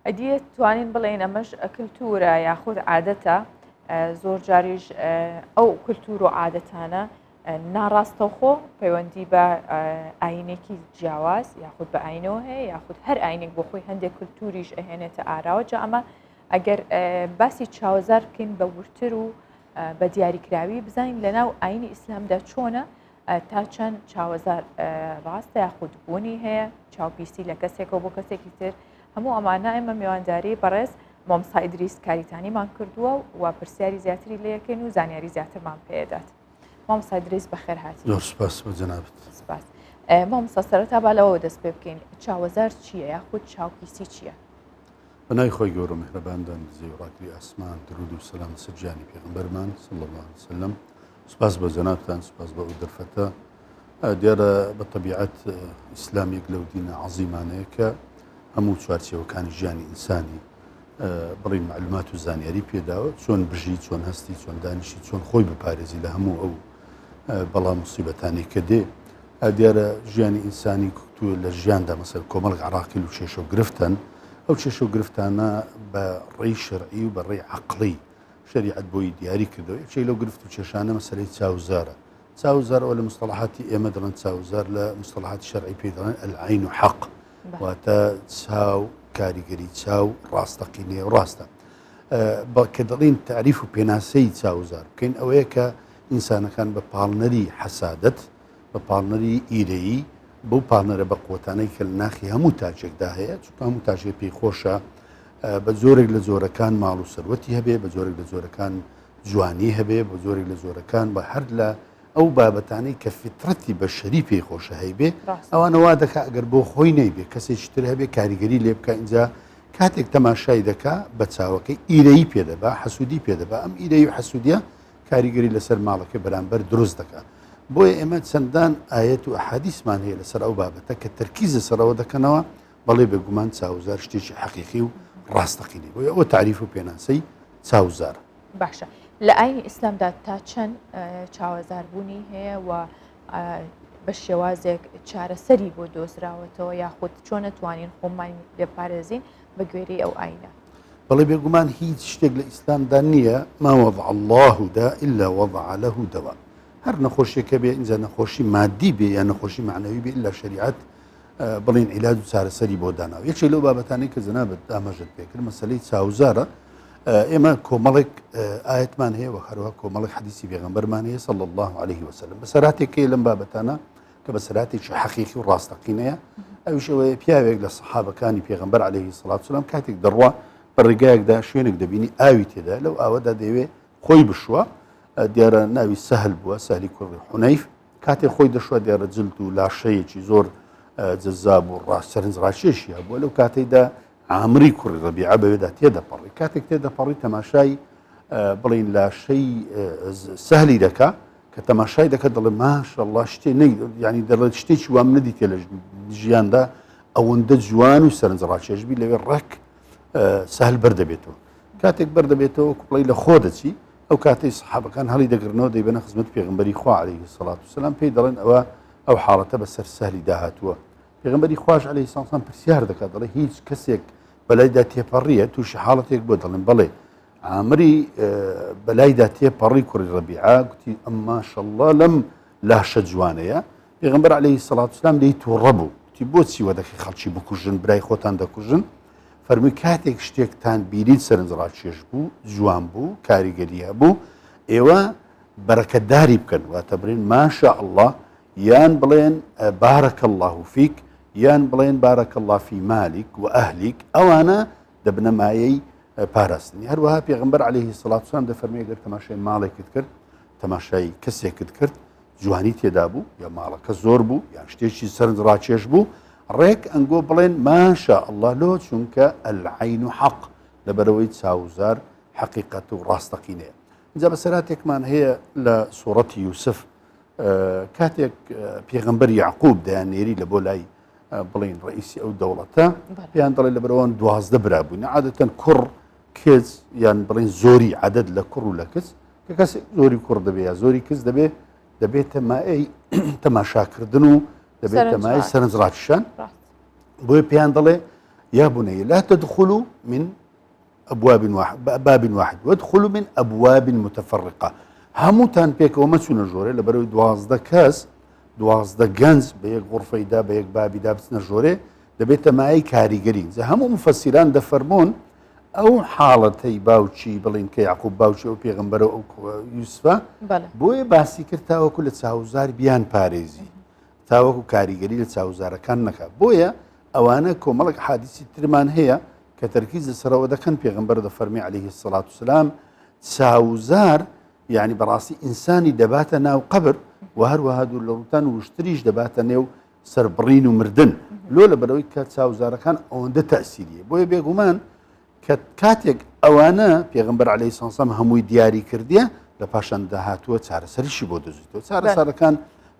ئەدیە توانین بڵێن ئەمەش کللتورە یاخود عادەتە زۆر جاریش ئەو کللتور و عادەتانە ناڕاستەوخۆ پەیوەندی بە ئاینێکی جیاواز یاخود بە ئاینەوە هەیە یاخود هەر ئاینێک بۆ خۆی هەندێک کللتوریش ئەهێنێتە ئاراوە جا ئەمە ئەگەر باسی چاوەزار بکەین بە ورتر و بە دیاریکراوی بزانین لە ناو ئاینی ئیسلامدا چۆنە تا چەند چاوەزار ڕاستە یاخود بوونی هەیە چاوپیسی لە کەسێکەوە بۆ کەسێکی تر هەموو ئەمانە ئێمە میوانداری بەڕێز مامسای دریس کاریتانیمان کردووە و پرسیاری زیاتری لەکەین و زانیاری زیاترمان پێدات مامسای دریس بەخێر هاات زۆر سپاس بە جەنابت سپاس مامسا سەرەتا با لەوە دەست پێ بکەین چاوەزار چییە یاخود چاوپیسی چییە؟ بەنای خۆی گەورە مهرەباندان زیوڕاکلی ئاسمان درود و سەسلام سرجانی پێغمبەرمان سڵ سلم سپاس بۆ جەنابتان سپاس بۆ ئەو دەرفەتە دیارە بە طبیعەت ئیسلامیک لەو دینە عظیمانەیە کە هەموو چوارچەوەکانی ژیانی ئینسانی بڕی معلومات و زانیاری پێداوە چۆن بژی چۆن هەستی چۆن دانیشی چۆن خۆی بپارێزی لە هەموو ئەو بەڵام مصیبەتانی کە دێ دیارە ژیانی ئینسانی کوکتو لە ژیاندا مەسەر کۆمەڵک عراقیل و شێشە و گرفتن ئەو شێشە و گرفتانە بە ڕێی شەرعی و بە ڕێی عقلی شەریعەت بۆی دیاری کردەوە یەکێک لەو گرفت و کێشانە مەسەری چاوزارە چاوزار ئەو لە مستەڵحاتی ئێمە دەڵێن چاوزار لە مستەڵحاتی شەرعی پێ دەڵێن ئەلعین و حەق واتە چاو کاریگەری چاو ڕاستەقینێ و ڕاستە بەڵکە دەڵین تعریف و پێناسەی چاوزار بکەین ئەوەیە کە ئینسانەکان بە پاڵنەری حەسادت بە پاڵنەری ئیرەیی بەو پاڵنەرە بە قوتانەی کە ناخی هەموو تاجێکدا هەیە چکە هەموو تاژێ پێی خۆشە بە جۆرێک لە جۆرەکان ماڵ و سەروەتی هەبێ بە جۆرێک لە جۆرەکان جوانی هەبێ بە جۆرێک لە جۆرەکان بە هەر لە ئەو بابەتانەی کە فترەتی بە شەری پێی خۆشە هەیبێ ئەوانەوا دەکا ئەگەر بۆ خۆی نەیبێ کەسێکی تر هەبێ کاریگەری لێ بکە اینجا کاتێک تەماشای دەکا بە چاوەکەی ئیرەی پێدەبا حەسوودی پێدەبا ئەم ئیرەی و حەسوودە کاریگەری لەسەر ماڵەکە بەرامبەر دروست دەکا بۆیە ئێمە چەندان ئاەت و حەدیسمان هەیە لەسەر ئەو بابەتە کە تەرکیزە سەرەوە دەکەنەوە بەڵێ بێگومان چاوزار شتێکی حەقیقی و ڕاستەقینەی بۆ ئەوە تعریف و پێناسەی چاوزار باشە لە ئاینی ئیسلامدا تا چەند چاوەزاربوونی هەیە و بە شێوازێک چارەسەری بۆ دۆزراوەتەوە یاخود چۆنە توانین خۆمان لێپارێزین بە گوێری ئەو ئاینە بەڵێ بێگومان هیچ شتێک لە ئیسلامدا نییە ماوەض اللهدا إلا وضع له دوا هەر نەخۆشیەکە بێ ئینجا نەخۆشی مادی بێ یا نەخۆشی معنەوی بێ لە شریعت بڵێن عیلاج و چارەسەری بۆ داناو یەکێک لەو بابەتانی کە جەنابەت دامەژت پێکرد مەسلەی چاوزارە ئێمە کۆمەڵێک ئاەتمان هەیە وە هەروە کۆمەڵی حەدیسی بێغمبەرمان هەیە سەڵ الله عليه وسلم بەسەراتێکی لەم بابەتانە کە بەسەراتێکی حەقیقی و ڕاستەقینەیە ئەوشەوەیە پیاوێک لە سەحابەکانی پێغمبەر عليه سڵات سلام کاتێک دەڕوا بە ڕێگایەکدا شوێنێک دەبینی ئاوی تێدا لەو ئاوەدا دەوێ خۆی بشوە دیارە ناوی سەهل بووە سالی کوڕی حونیف کاتێ خۆی دەشوە دێرە جلد و لاشەیەکی زۆر جزاب و ڕاست سەرنج ڕاکێشی هەبووە لەو کاتێکدا ئامری کوڕی ڕبیعە بەوێدا تێدەپەڕی کاتێک تێدەپەڕی تەماشای بڵین لاشەی سەهلی دەکا کە تەماشای دەکە دەڵێ ماشەڵا شتێ ینی دەڵێت شتێکی وام نەدیتێ لە ژیاندا ئەوەندە جوان و سەرنج ڕاکێشبی لەوێ ڕێک سەهل بەردەبێتەوە کاتێک بەردەبێتەوە کوپڵی لە خۆ دەچی ئەو کاتەی سەحابەکان هەڵی دەگرنەوە دەیبەنە خزمەتی پێغمبەری خوا علیه الصلاة والسلام پێی دەڵێن ئەوە ئەو حاڵەتە بەسەر سەهلی داهاتووە پێغمبەری خواش علیه الصلاة والسلام پرسیار دەکات دەڵێ هیچ کەسێک بەلایدا تێپەڕیە تووشی حاڵەتێک بۆ دەڵێن بەڵێ ئامری بەلایدا تێپەڕی کوڕی ڕەبیعە گوتی ئەمما شەڵڵا لەم لاشە جوانەیە پێغەمبەر عەلەیهی سەڵات وسلام لێی تووڕە بوو تی بۆچی وەدەخی خەڵکی بکوژن برای خۆتان دەکوژن فەرمی کاتێک شتێکتان بیریت سەرنجڕاکێش بوو جوان بوو کاریگەریە بوو ئێوە بەرەکەتداری بکەن واتە برێن ماشا الله یان بڵێن بارەکە الله و فیک یان بڵێن بارەکە الله فی مالیک و ئەهلیک ئەوانە دەبنەمایەی پاراستنی هەروەها پێغمبەر عليهەیهی سڵاتسان دەفەرمێگەر تەماشای ماڵێکت کرد تەماشای کەسێکت کرد جوانی تێدا بوو یا ماڵەکە زۆر بوو یان شتێکی سەرد ڕاکێش بوو ڕێک ئەنگۆ بڵێن ماشە ئەله لۆ چونکە ئەلعین و حەق لەبەرەوەی چاوزار حقیقەت و ڕاستەقینەیە جا بە سەراتێکمان هەیە لە سوڕەتی یوسف کاتێک پێغمبەر یعقوب دەیان نێری لە بۆ لای بڵین ڕئیسی ئەو دەوڵەتە پێیان دەڵێ لە بەرەوەن دوازدە برابووین عادەتەن کوڕ کچ یان بڵین زۆری عادەت لە کوڕ و لە کچ کە کەسێک زۆری کوڕ دەبێ یا زۆری کچ دەبێ دەبێت تەمای تەماشاکردن و دەبێت تەمای سەرنج ڕاکشان بۆی پێیان دەڵێ یا بنەیە لا تدخل من أبواب واحد باب واحد وادخل من أبواب متفرقة هەمووتان پێکەوە مەچوونە ژۆرە لە بەرەوەی دوازدە کەس دوازدە گەنج بە یەک غڕفەیدا بە یەک بابیدا بچنە ژۆرێ دەبێتە مایەی کاریگەری جا هەموو مفەسیران دەفەرمونون ئەو حاڵەتەی باوکی بڵین کە یاقوب باوکی ئەو پێغمبەر و یوسفە بۆیە باسی کرد تاوەکو لە چاوزار بیان پارێزی تاوەکو کاریگەری لە چاوزارەکان نەکە بۆیە ئەوانە کۆمەڵک حادیسی ترمان هەیە کە تەرکیز لەسەرەوە دەکەن پێغمبەر دە فەرمی عليه سڵات و سلام چاوزار یعنی بەڕاستی ئینسانی دەباتە ناو قبر و هەروەها دوور لە ڕوتان وشتریش دەباتە نێو سەربڕین و مردن لۆ لە بەرەوەی کە چاوزارەکان ئەوەندە تاسیریە بۆیە بێگومان کە کاتێک ئەوانە پێغمبەر عليه سانسەم هەمووی دیاری کردە لە پاشان داهاتووە چارەسەریشی بۆ دەزیتەوە چارەسارەکان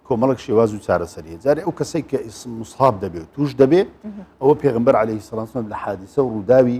کۆمەڵک شێواز و چارەسەریە جارێ ئەو کەسێک کە ئیسم مسحاب دەبێت و توش دەبێت ئەوە پێغمبەر عليه سلانسم لە حادیسە و ڕووداوی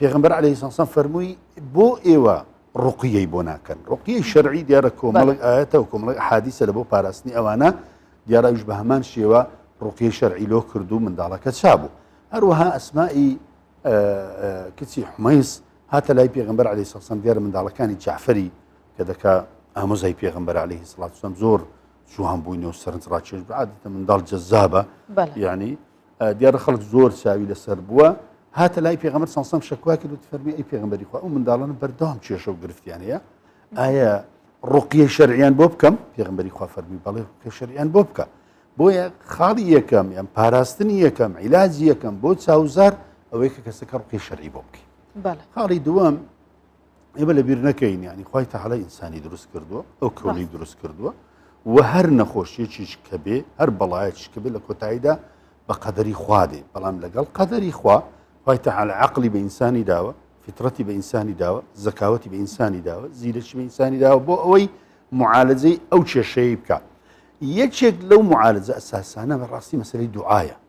پێغمبەر عليه ساسان فەرمووی بۆ ئێوە ڕقیەی بۆ ناکەن ڕقیی شەرعی دیارە کۆمەڵک ئاەتە و کۆمەڵک حادیسە لە بۆ پاراستنی ئەوانە دیاراویش بە هەمان شێوە ڕقیی شەرعی لۆ کرد و منداڵەکە چابوو هەروەها ئەسمایی کچی حمەیس هاتە لای پێغمبەر علی سەسەم دیارە منداڵەکانی جعفری کە دەکا ئامۆزای پێغمبەر عليه سڵاتسم زۆر جوان بووینەوە سەرنج ڕاکێش بعادتە منداڵ جەزابە ینی دیارە خەڵک زۆر چاوی لەسەر بووە هاتە لای پێغەمبەر سەسەم شکوا کرد فەرمی ئەی پێغمبەری خوا ئەو منداڵان بەردەوام کێشە و گرفتیان هەیە ئایا ڕقیە شەریان بۆ بکەم پێغمبەری خوا فەرمی بەڵێ ڕقیە شەریان بۆ بکە بۆیە خاڵی یەکەم یان پاراستنی یەکەم عیلاجی یەکەم بۆ چاوزار ئەوەی کە کەسەکە ڕقی شەرعی بۆ بکەین خاڵی دووەم ئێمە لە بیر نەکەین ینی خی تەحالا ئینسانی دروست کردووە ئەو کۆنی دروست کردووە و هەر نەخۆشیەکیش کە بێ هەر بەڵایەتش کە بێ لە کۆتاییدا بە قەدەری خوا دێ بەڵام لەگەڵ قەدەری خوا خی تەحالا عقلی بە ئینسانی داوە فترەتی بە ئینسانی داوە زەکاوەتی بە ئینسانی داوە زیرەکی بە ئینسانی داوە بۆ ئەوەی معالجەی ئەو کێشەیە بکە یەکێک لەو معالجە ئەساسانە بە ڕاستی مەسەری دوعاە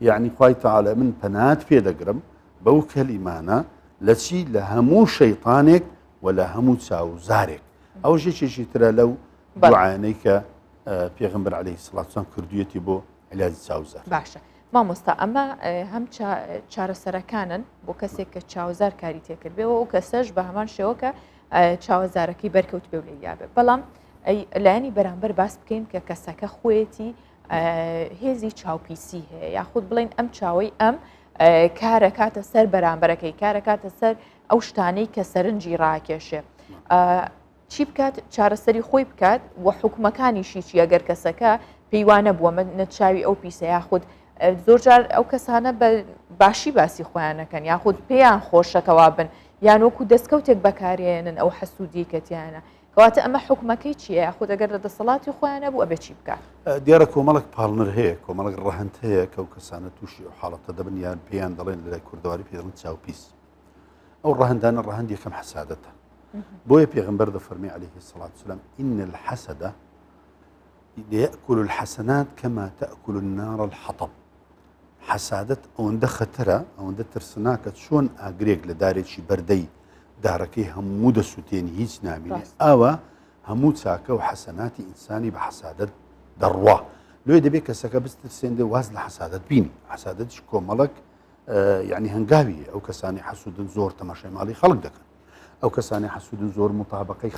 یەعنی خوای تەعالا من پەنات پێ دەگرم بەو کەلیمانە لە چی لە هەموو شەیتانێک و لە هەموو چاوزارێک ئەو ژێکێکی ترە لەو بەعاەی کە پێغمبەر عليه سڵاتسان کردویەتی بۆ علاجی چاوزار باشە مامۆستا ئەمە هەم چارەسەرەکانن بۆ کەسێک کە چاوزار کاری تێکرد بێەوە ئەو کەسەش بە هەمان شێوەکە چاوەزارەکەی بەرکەوت پێ لە یابێت بەڵام لایەنی بەرامبەر باس بکەین کە کەسەکە خۆیەتی هێزی چاوپیسی هەیە یاخود بڵین ئەم چاوەی ئەم کارە کاتە سەر بەرامبەرەکەی کارە کاتە سەر ئەو شتانەی کە سەرنجی ڕاکێشێ چی بکات چارەسەری خۆی بکات و حکومەکانیشی چی ئەگەر کەسەکە پێیوانە بووە من نەچاوی ئەو پیسە یاخود زۆرجار ئەو کەسانە بە باشی باسی خۆیانەکەن یاخود پێیان خۆشەکەوا بن یان وەکو دەستکەوتێک بەکارێنن ئەو حەسوودیکەتیانە کەواتە ئەمە حوکمەکەی چیە یاخود ئەگەر لە دەسەڵاتی خۆیان نەبوو ئەبێ چی بکا؟ دیارە کۆمەڵک پاڵنەر هەیە کۆمەڵک ڕەهند هەیە کە و کەسانە تووشی و حاڵەتە دەبن یان پێیان دەڵێن لە کوردەواری پێڵن چاوپیس ئەو ڕەهندانە ڕەهند یەکەم حسادەتە بۆیە پێغمبەر دە فەرمی عليه سڵات سلام ئین الحەسەدە يأكل الحسنات كما تأكل النار الحطب حەسادەت ئەوەندە خەتەرە ئەوەندە ترسناکە چۆن ئاگرێک لە دارێکی بەردەی دارەکەی هەموو دەسووتێنی هیچ نامێنێت ئاوە هەموو چاکە و حەسەناتی ئینسانی بە حەسادەت دەڕوا لێ دەبێت کەسەکە بسترسێندێ واز لە حەسادت بینی حەسادت کۆمەڵک یعنی هەنگاوی ئەو کەسانی حەسوودن زۆر تەماشای ماڵی خەڵک دەکەن ئەو کەسانی حەسوودن زۆر مطابقی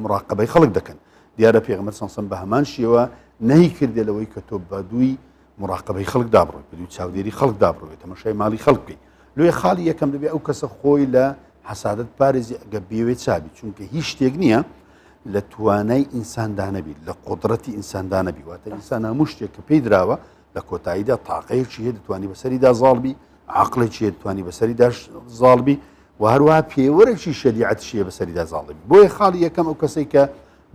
مراقبەی خەڵک دەکەن دیارە پێغمە سەسم بە هەمان شێوە نەی کردێ لەوەی کە تۆ بەدووی مراقبەی خەڵک دابڕێت بدوی چاودێری خەڵک دابڕێت تەمەشای ماڵی خەڵک بکەیت لێ خاڵی یەکەم دەبێت ئەو کەسە خۆی لە حەسادت پارێزی ئەگە بێوێ چابی چونکە هیچ شتێک نییە لە توانای ئینساندانەبیت لە قدرەتی ئینساندانەبی واتە ئینسان هەموو شتێک کە پێی درراوە لە کۆتاییدا تاقەیەکی هەیە دەتوانانی بەسەریدا زاڵبی عقلێکی هەیە دەتوانانی بەسەری داش زاڵبی و هەروە پێوەرەی شریعەت شیە بەسەریدا زاڵبی بۆیە خاڵی یەکەم ئەو کەسێک کە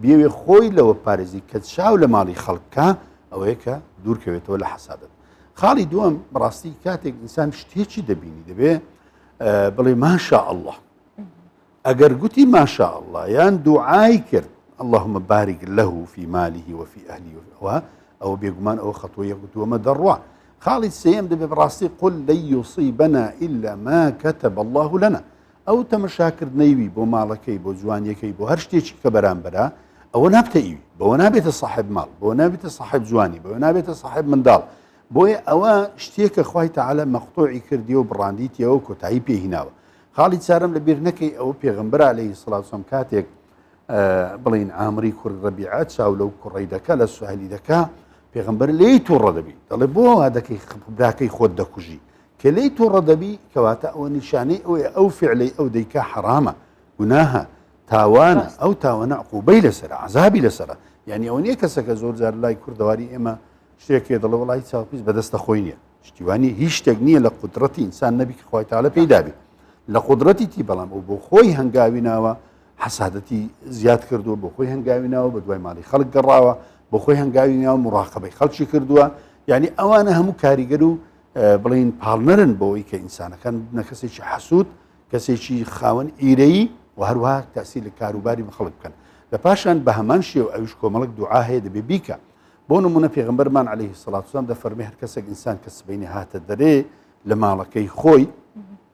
بیەوێ خۆی لەوە پارێزی کە چاو لە ماڵی خەڵکە ئەوەیە کە دوورکەوێتەوە لە حەسادت خاڵی دووەم بەڕاستی کاتێک ئینسان شتێکی دەبینی دەبێ بڵێ ماشا الله ئەگەر گوتی ماشا الله یان دوعای کرد اللهم بارك له في ماله وفي أهله وفي ئەوە بێگومان ئەو خەتۆ یەکوتووەمە دەڕوا خاڵی سم دەبێ بڕاستی قل لە یوسی بەنا ئللا ما کەتە بەله لەنا ئەو تەمەشاکردنەی وی بۆ ماڵەکەی بۆ جوانیەکەی بۆ هەر شتێکی کە بەرامبەرە ئەوە نابتە ئیوی بەوە نابێتە صاحب ماڵ بۆ نابێتە صاحب جوانی بەوە نابێتە صاحب منداڵ بۆیە ئەوە شتێکە خی تەعاالە مەختۆعی کردی و بڕاندیتیەوە کۆتایی پێهیناوە خاڵی چارم لە بیر نەکەی ئەوە پێغمبەر عليه سلاسم کاتێک بڵین ئامری کوڕ ڕبیعە چاو لەو کوڕی دەکە لە سوهلی دەکە پێغمبەر لی تووڕە دەبی دەڵێ بۆ وا دەکەی خبراکەی خۆت دەکوژی کە لێی توڕە دەبی کەواتە ئەوە نیشانەی ئەوەیە ئەو فعلەی ئەو دەیکا حەرامە گوناهە تاوانە بەس ئەو تاوانە عقوبەی لەسەر عذابی لەسەرە یعنی ئەوە نییە کەسەکە زۆر جار لای کوردەواری ئێمە شتێکێ دەڵێ وڵی چاوپیس بەدەستە خۆی نییە شتیوانی هیچ شتێک نییە لە قدرەتی ئینسان نەبی کە خخوای تاالە پێی دابێت لە قدرەتی تی بەڵام ئەو بۆ خۆی هەنگاوی ناوە حەسادەتی زیاد کردووە بۆ خۆی هەنگاوی ناوە بە دوای ماڵی خەڵک گەڕاوە بۆ خۆی هەنگاوی ناوە مراقبەی خەڵکی کردووە یعنی ئەوانە هەموو کاریگەر و بڵێین پاڵنەرن بۆی کە ئینسانەکان بنە کەسێکی حەسوود کەسێکی خاوەن ئیرەیی و هەروە تاسی لە کاروباری بخڵک بکەن لە پاشان بە هەمان شێو ئەوش کۆمەڵک دوعا هەیە دەبێ بیکە بۆ نمونە پێغمبەرمان عليه سڵاتسان دە فەرمی هەر کەسێک ئینسان کە سبینی هاتە دەرێ لە ماڵەکەی خۆی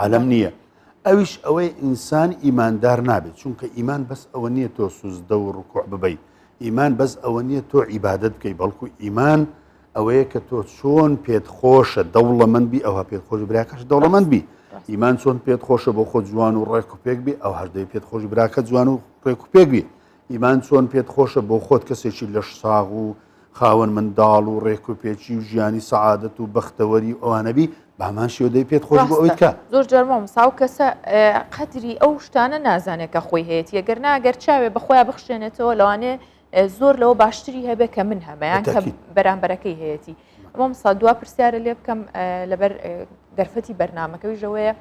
عالەم نییە. ئەویش ئەوەی ئینسان ئیماندار نابێت چونکە ئیمان بەس ئەوە نییە تۆ سوزدە و ڕکوع ببەی ئیمان بەس ئەوە نییە تۆ عیبادت بکەی بەڵکو ئیمان ئەوەیە کە تۆ چۆن پێت خۆشە دەوڵەمەند بی ئەوها پێت خۆش براکەش دەوڵەمەند بی ئیمان چۆن پێت خۆشە بۆ خۆ جوان و ڕێک و پێک بی ئەو هەردەی پێت خۆش براکە جوان و ڕێک و پێک بی ئیمان چۆن پێت خۆشە بۆ خۆت کەسێکی لەش ساغ و خاوەن منداڵ و ڕێک و پێچی و ژیانی سەعادەت و بەختەوەری ئەوانەبی بامان شێودەی پێت خۆش بۆ ئەویکە زۆر جەرمۆم ساو کەسە قەدری ئەو شتانە نازانێت کە خۆی هەیەی ئەگەر ناگەر چاوێ بەخۆیان بخشێنێتەوە لەوانێ زۆر لەوە باشتری هەبێ کە من هەمەیان کە بەرامبەرەکەی هەیەی ئەمەم سا دوا پرسیارە لێ بکەم لەبەر دەرفەتی بەرنمەکەی ژەوەیە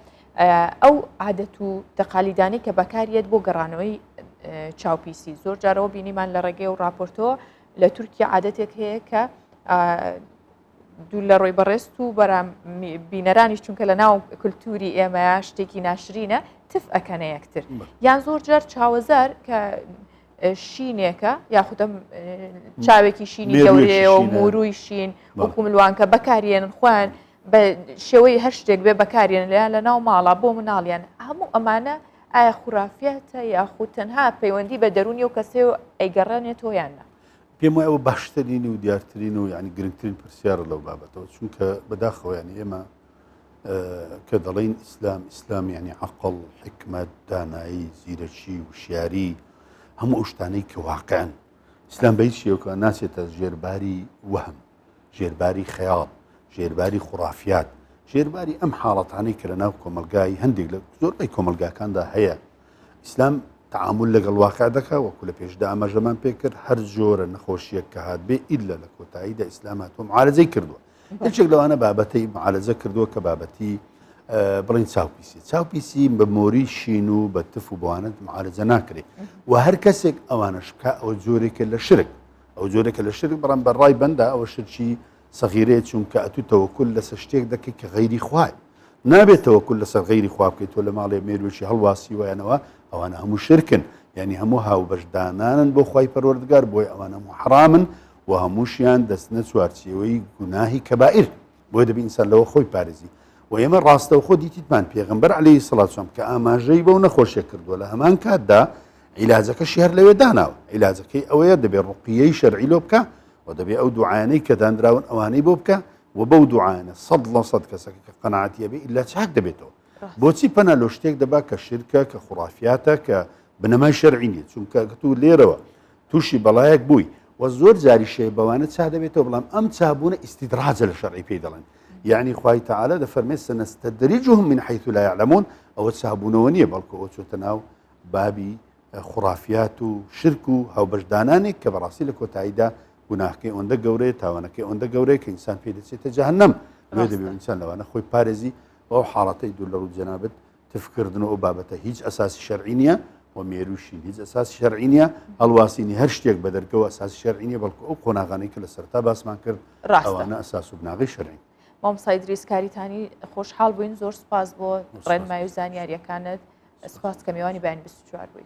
ئەو عادەت و تەقالیدانی کە بەکاریت بۆ گەڕانەوەی چاوپیسی زۆر جارەوە بینیمان لە ڕێگەی و راپۆرتەوە لە تورکیا عادەتێک هەیە کە دوو لە ڕۆی بەڕێست و بەرام بینەرانیش چونکە لە ناو کللتوری ئێمە شتێکی ناشرینە تف ئەەکەنە یەکتر یان زۆر جار چاوەزار کە شینێکە یاخودە چاوێکی شینی گەورەیە و موروی شین وەکو ملوانکە بەکارێنن خوۆن بە شێوەی هەر شتێک بێ بەکارێن لە لە ناو ماڵە بۆ مناڵیان هەموو ئەمانە ئایا خورافیاتە یاخود تەنها پەیوەندی بە دەرونی و کەسێ و ئەیگەڕێنێتەوە یان نا پێم وایە ئەوە باشترین و دیارترین و یعنی گرنگترین پرسیارە لەو بابەتەوە چونکە بەداخەوەیانی ئێمە کە دەڵین ئیسلام ئیسلام یعنی عقل حکمت دانایی زیرەکی وشیاری هەموو ئەو شتانەی کە واقعن ئیسلام بە هیچ شێوکە ناچێتە ژێرباری وەهم ژێرباری خەیاڵ ژێرباری خوڕافات ژێرباری ئەم حاڵەتانەی کە لە ناو کۆمەلگای هەندێک لە زۆربەی کۆمەلگاکاندا هەیە ئیسلام تعامل لەگەڵ واقع دەکا وەکو لە پێشدا ئاماژەمان پێکرد هەر جۆرە نەخۆشیەک کە هاات بێ ئیللا لە کۆتاییدا ئیسلام هاتۆم عاالزەی کردووە هەچێک لەوانە بابەتی معالزە کردووە کە بابەتی بڵین چاوپیسی چاوپیسی بە مۆری شین و بە تف و بوانت معالزە ناکرێت و هەر کەسێک ئەوانە شکا ئەو جۆرێکە لە شرک ئەو جۆرێکە لە شرک بەڵام بە ڕای بەندا ئەوە شرکی سەغیرەیە چونکە ئەتوو تەوەکل لەسەر شتێک دەکەیت کە غەیری خوای نابێت تەوەکل لەسەر غەیری خوا بکەیت تۆ لە ماڵێ مێروێکی هەڵواسی وایەنەوە ئەوانە هەموو شرکن یعنی هەموو هاوبەشدانانن بۆ خی پەروەردگار بۆی ئەوان هەموو حرامن و هەمووشیان دەستنە چوارچیەوەی گوناهی کەبائیر بۆیە دەبی ئینسان لەوە خۆی پارێزی و ئێمە ڕاستەوخۆ دیتیتمان پێغمبەر عليهەی سڵاتسم کە ئاماژەی بەو نەخۆشیە کردووە لە هەمان کاتدا عیلاجەکە شێر لەوێ داناوە عیلاجەکەی ئەوەیە دەبێت ڕقیەی شەرعی لۆ بکە و دەبێت ئەو دوعاانەی کە دانراون ئەوانەی بۆ بکە و بەو دوعاانە سەد لە سەد کەسەکە کە قەنعاتیە بێ ئللا چاک دەبێتەوە بۆچی پەنا لۆ شتێک دەبا کە شرکە کە خوڕافاتە کە بنەمای شەرعی نیە چونکە گەتو لێرەوە توشی بەڵایەک بووی و زۆر جاری شەی بەوانە چا دەبێتەوە بڵام ئەم چابوونە ئیسیدراجە لە شەڕی پێی دەڵێن یعنی خی تعاالە دە فەرمێ سەنەستە دەریجهم من حیث لا يعلمون ئەوە چابوونەوە نییە بەڵکو ئەو چۆتە ناو بابی خورافات و شرک و هاوبەشدانانێک کە بەڕاستی لە کۆتاییدا گوناهکەی ئەوەندە گەورەیە تاوانەکەی ئەوەندە گەورەیە کە ئینسان پێ دەچێتە جەهنم لێ دەبێت ئینسان لەوانە خۆی پارێزی بەو حاڵەتەی دوور لە ڕوو جەنابەت تفکردن و ئەو بابەتە هیچ ئەساسی شەرعی نییە و مێروشین هیچ ئەساسی شەرعی نییە هەڵواسینی هەر شتێک بە دەرگەوە ئەساسی شەرعی نیە بەڵکو ئەو قۆناغانی کە لە سەرتا باسمان کرد ڕاستانە ئەساس و بناغی شەرعی مامسای دریسکاریتانی خۆشحاڵ بووین زۆر سپاس بۆ ڕێنمای و زانیاریەکانت سپاس کە میوانی بەیان 24 بووی